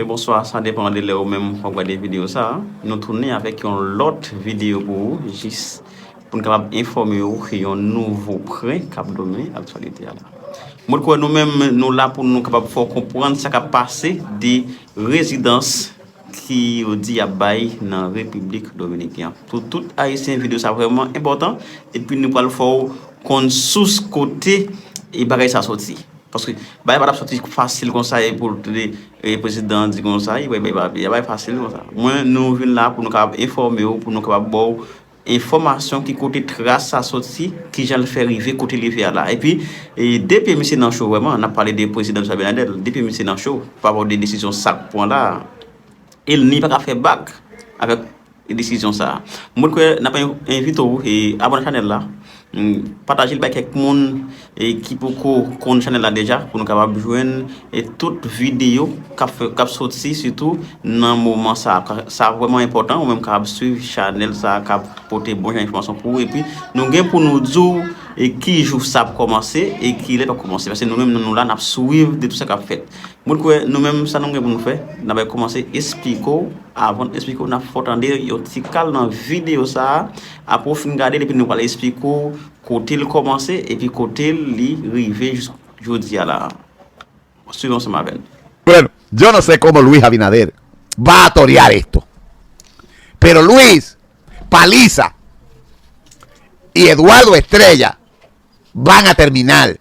Bonswa, sa depan de lè ou menm wap gade video sa Nou tounen avèk yon lòt video pou ou Jis pou n kapab enfòme ou ki yon nouvo pren kap donnen aktyalite a la Mwen kwè nou menm nou la pou nou kapab fè w konprann sa kap pase de rezidans ki yo di yap bay nan repiblik dominik yan pou tout ayisyen video sa vreman enpotan epi nou pral fè w konn sous kote e bagay sa soti paske bagay pa tap soti fasil konsa e pou tande e prezidan di konsa e bay bay bay bay fasil konsa mwen nou vin la pou nou kab enfòme w pou nou kab baw Enfòmasyon ki kote tras sa soti, kijan l fè rive kote li rive a la. Epi, de pye misye nan cho vrèman, n ap pale de Prezidan Luis Abinader, de pye misye nan cho pa rapò de desizyon sa k pran la a. E l ni pa ka fè bak avèk desizyon sa a. Mwen kwè n ap envite w abòne chanèl la, Patajel bay kèk moun ki poko konn chanèl la deja pou nou kapab jwenn tout videyo kap soti sitou nan moman sa sa vreman enpòtan ou menm kapab swiv chanèl sa kap pote bon jan enfòmasyon pou ou epi nou gen pou nou di ou ki jou sa ap kòmanse e ki lè l ap kòmanse paske nou menm nou la nap swiv de tout sa kap fèt mwen kwè nou menm sa nou gen pou nou fè nan bay kòmanse esplike ou avan esplike ou nan fè w tande yon ti kal nan videyo sa. Apre w fin gade l epi nou pral esplike w kote l kòmanse epi kote li rive jisk jodi a la a. Swiv ansanm avè n. Bueno, yo no se komo Luis Abinader va a torear esto, pero Luis Paliza y Eduardo Estrella van a terminal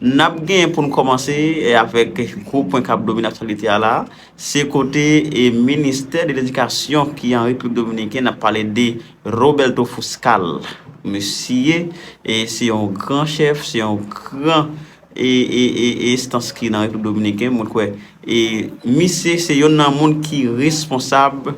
N ap gen pou n kòmanse avèk gwo pwen k ap domine aktyalite a la a, se kote ministè de ledikasyon ki an Repiblik Dominiken, n ap pale de Roberto Fuscal. Misye se yon gran chèf, se yon gran enstans ki nan Repiblik Dominiken, mwen kwè misye se yonn nan moun ki responsab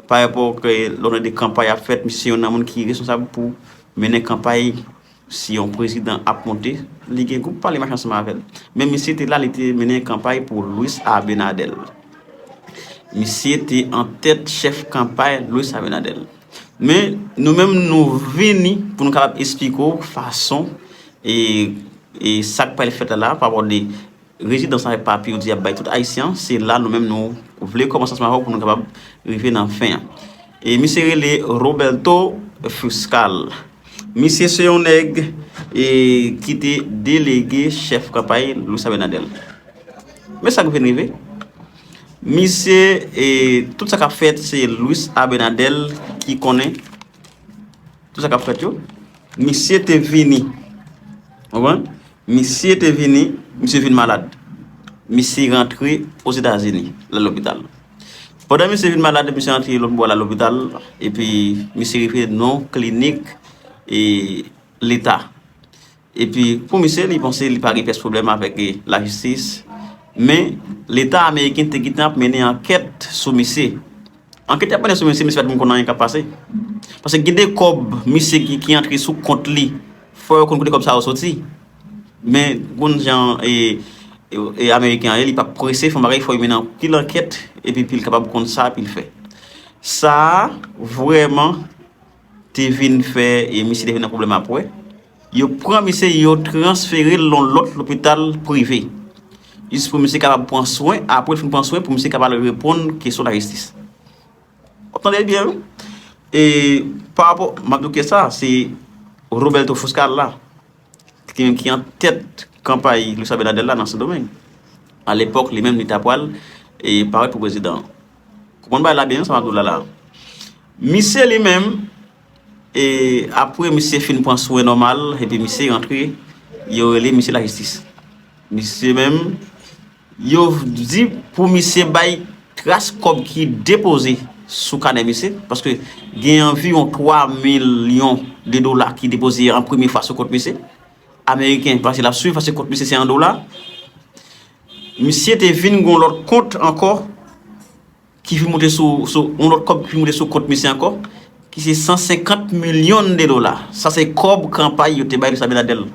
pa rapò lè w gade kanpay ap fèt, misye se yonn nan moun ki responsab pou mennen kanpay. Si yon prezidan ap monte, li gen gwoup pa li mache ansanm avè l. Men misye te la, li te mennen kanpay pou Luis Abinader. Misye te an tèt chèf kanpay Luis Abinader. Men, nou menm nou vini pou nou kapab esplike w fason e sa k pral fèt la la pa bò de Rezidans avèk papye yo di yap bay tout Ayisyen, se la nou menm nou vle kòmanse ansanm avè w pou nou kapab rive nan fen an. E misye rele Roberto Fuscal. Misye se yon nèg e ki te delege chèf kanpay Luis Abinader. Men sa k vin rive, misye e tout sa kap fèt se Luis Abinader ki konnen tout sa kap fèt yo. Misye te vini, ou konprann? Misye te vini, misye vin malad. Misye rantre Ozetazini, l al lopital. Pandan misye vin malad, misye rantre lòt bò l al lopital, epi misye rive nan klinik leta. Epi pou misye, li panse li pa gen pyès pwoblèm avèk lajistis, men leta ameriken te gentan ap mennen ankèt sou misye. Anketè pandan sou mesye misye pat menm konn anyen kap pase paske gen de kòb misye gen ki antre sou kont li fò yo konn kote kòb sa yo soti men ou konn jan e ameriken an ye li pap prese fon bagay fò yo mennen anpil ankèt epi pil kapab konn sa pil fè sa vrèman te vin fè e misye te vin nan pwoblèm apwè. Yo pran misye yo transfere l yon lòt lopital prive jis pou misye kapab pran swen, apre l fin pran swen pou misye kapab al reponn kesyon lajistis. W ap tande byen wi. E pa rapò, m ap di w kè sa, se Roberto Fuscar la ki te menm ki an tèt kanpay Luis Abinader la nan Sendomeng. A lepòk li menm li ta pral e parèt pou prezidan. Konprann bagay la byen sa m ap di w la la. Misye li menm E apre misye fin pran swen nòmal epi misye rantre, yo rele misye lajistis. Misye menm, yo di pou misye bay tras kòb ki depoze sou kanè misye, paske gen anviwon 3 milyon de dola ki depoze an premye fwa sou kont misye. Ameriken pase la swiv, paske kont misye se an dola. Misye te vin gen yon lòt kont ankò. Ki vin moute sou, sou, yon lòt kòb ki vin moute sou kont misye ankò, ki se 150 milyon de dola. Sa se kòb kanpay yo te bay Luis Abinader. Ou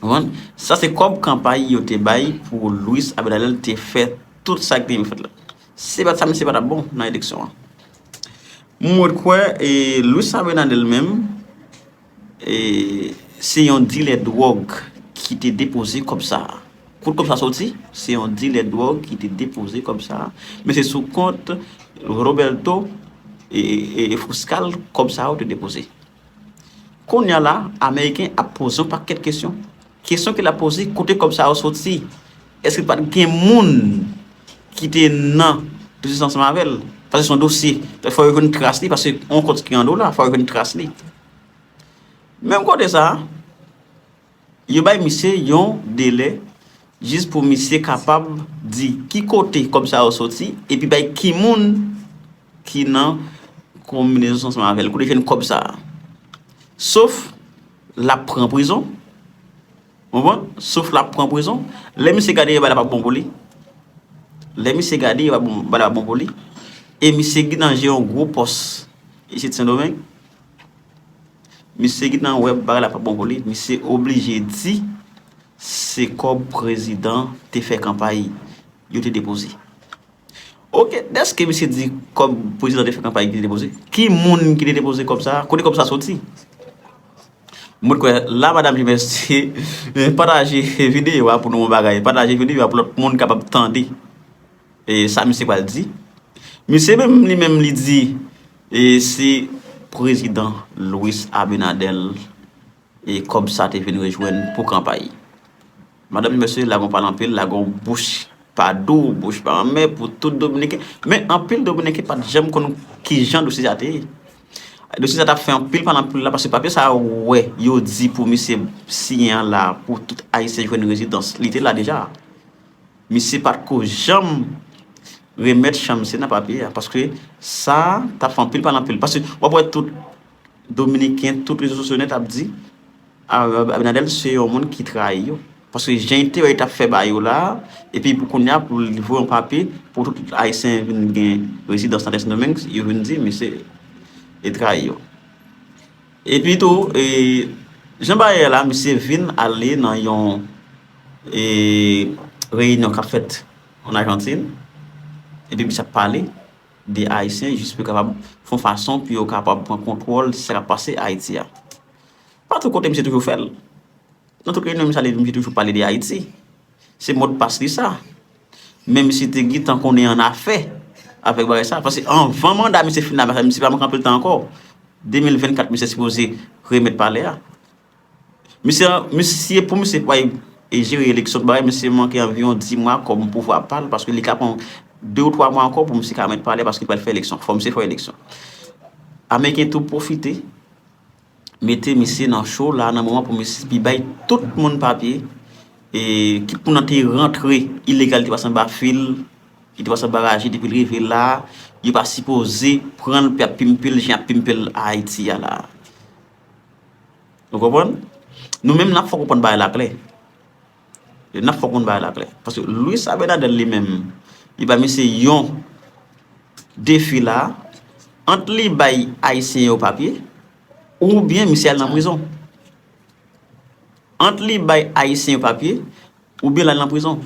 konprann? Sa se kòb kanpay yo te bay pou Luis Abinader te fè tout sa ki te vin fèt la. Se pa t sa, misye pa t ap bon nan eleksyon an. Mwen kwè, e, Luis Abinader menm, Se yon dilè dwòg ki te depoze kòb sa a. Kot kòb sa soti? Se yon dilè dwòg ki te depoze kòb sa a. Men se sou kont Roberto Fuscal kòb sa yo te depoze. Kounya la, Ameriken ap poze yon pakèt kesyon. Kesyon ke lap poze, kote kòb sa yo soti? Eske pat gen moun ki te nan biznis la ansanm avèl? Paske se yon dosye, fò yo jwenn tras li paske yon kont ki an dola, fò yo jwenn tras li. Menm kote sa, yo bay misye yon delè jis pou misye kapab di ki kote kòb sa yo soti epi bay ki moun ki nan konbinezon ansanm avèl, kote jwenn kòb sa. Sof. Lap pran prizon Ou konprann Sof lap pran prizon Lè misye gade yo bagay la pap bon pou li Lè misye gade yo bagay la pap bon pou li E misye gen nan je yon gwo pòs Isit sendomeng Misye gen nan wè bagay la pap bon pou li Misye oblije di Se kòb prezidan te fè kanpay Yo te depoze Ok deske misye di kob prezidan te fè kanpay ki te depoze ki moun ki te depoze kob sa kote kob sa soti mwen t kwè la madam jumès te pataje video a pou nou yon bagay pataje video a pou lòt moun kapab tande e sa misye pral di misye menm li menm li di e se prezidan Louis Abinader E kòb sa te vin rejwenn pou kanpay. Madanm mesye lagon pale anpil, lagon bouch pa dou, bouch pa anmè pou tout dominiken. Men anpil dominiken pa t janm konn ki jan dosye sa te ye. Dosye sa t ap fè anpil pale anpil la paske papye sa wè yo di pou misye siyen an la pou tout ayisyen jwenn rezidans. Li te la deja. Misye pa t ko janm remèt chan misye nan papye a paske sa t ap fè anpil pale anpil. Paske w ap wè tout. Dominiken tout rezo sosyo nèt ap di Abinadèl se yon moun ki trayi yo paske jan enterè tap fè ba yo la epi pou kounya pou l voye yon papye pou tout ayisyen vin gen rezidans nan Sendomeng yo vin di misye e trayi yo epi tou e jan bagay ye la misye vin ale nan yon e reyinyon kap fèt an Ajantin epi misye ap pale de Ayisyen jis pou yo kapab fè yon fason pou yo kapab pran kontwòl sa k ap pase Ayiti a. Patou kote misye toujou fè l. Nan tout reyinyon misye ale misye toujou pale de Ayiti. Se modpas li sa. Men misye te gen tan konnen annafè avèk bagay sa. Pase anvan manda misye fin la misye pa manke anpil tan ankò. 2024 misye sipoze remèt palè a. Misye, misye pou misye pa jere eleksyon tout bagay, misye manke anviwon 10 mwa kòm pouvwa pa l paske li ka pran 2 ou 3 mwa ankò pou misye ka mèt pale paske li pral fè eleksyon. Fò misye fè eleksyon. Ameriken tou pwofite mete misye nan cho la nan moman pou misye pi bay tout moun papye e ki pou nan te rantre ilegal li te pase anba fil, li te pase anba raje depi l rive la, yo pa sipoze pran l pou y ap pimpe l jan y ap pimpe l Ayiti a la. Ou konprann? Nou menm nan fòk ou konn bagay la klè. E nan fòk ou konn bagay la klè. Paske Louis Abinadel li menm, li ba misye yon defi la, ant li bay Ayisyen yo papye, oubyen misye al nan prizon. Ant li bay Ayisyen yo papye, Ou byen lal nan prizon.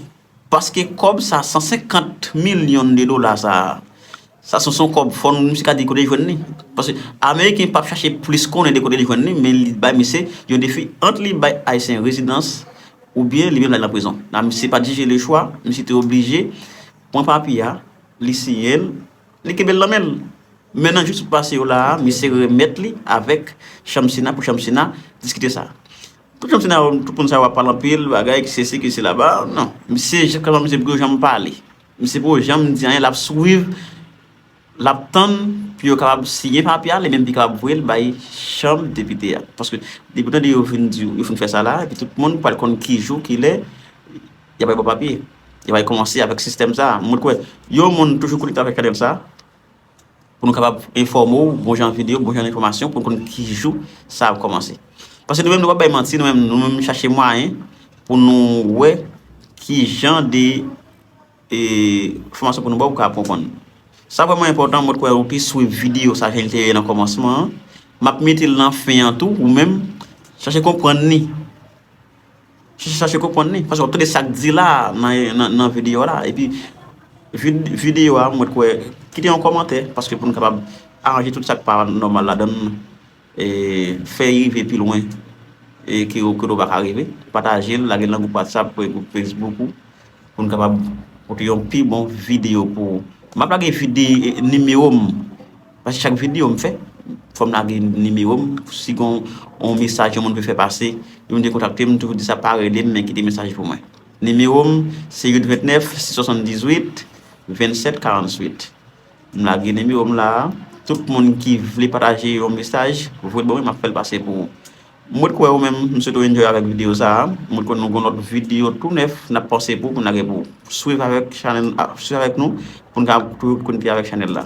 Paske kob sa 150 million de dola sa. Sa son son kob fon misye ka di kote li jwenn li. Paske ameriken pap chache plis konnen de kote li jwenn li men li bay misye yon defi ant li bay ayisyen rezidans ou byen li menm lal nan prizon. La misye pat jije le chwa misye te oblije pran papye a li siyel li kenbel nan menl. Men nan jou sou pase yo la misye remet li avek chanm sena pou chanm sena diskite sa. Tout janm senaryo tout moun sa yo ap pale anpil bagay ki sesi ki sela ba nan misye kòman misye pko janm pale misye pko janm di anyen lap swiv lap tann pou yo kapab siyen papye a li menm li kapab voyel bay chanm depite a paske depi ou tande yo fin di yo fin fè sa la epi tout moun pral konn ki jou ki lè yap bay bon papye yo pral kòmanse avèk sistèm sa mwen kwè yon moun toujou konekte avèk chanèl sa. pou nou kapab enfòme ou bon jan videyo, bon jan enfòmasyon pou nou konn ki jou sa ap kòmanse. Paske nou menm nou pa bay manti, nou menm nou menm chache mwayen pou nou wè ki jan de e enfòmasyon pou nou ba ou pou ka konprann nou. Sa vrèman enpòtan mwen t kwè ou te swiv videyo sa jan li te ye nan kòmansman an, m ap mete l nan fen an tou ou menm chache konprann ni. Chache konprann li, paske wap tande sak di la nan video la, epi video a mwen kwè kite yon komantè, paske pou nou kapab aranje tout sak pa nòmal la dan, e fè rive pi lwen, e ke ou kote ou baka rive, pataje l, lage l nan gwoup WhatsApp, pou e gwoup Facebook ou, pou nou kapab pote yon pi bon video pou ou. Map lage video, nimewo m. Paske chak video m fè, fòm lage nimewo m, si gon yon mesaj yon moun vle fè pase, li mande kontakte m, m toujou di sa pa rele m men kite mesaj pou mwen. Nimewo m se 829 678 27 48. M lage nimewo m la a, tout moun ki vle pataje yon mesaj, voye l ban mwen m ap fè l pase pou ou. M ret kwè ou menm, m swete w enjoy avèk video sa a, m ret kwè nou gon lòt video tou nèf n ap panse pou pou n lage pou ou. Swiv avèk nou pou n ka toujou konekte avèk chanèl la.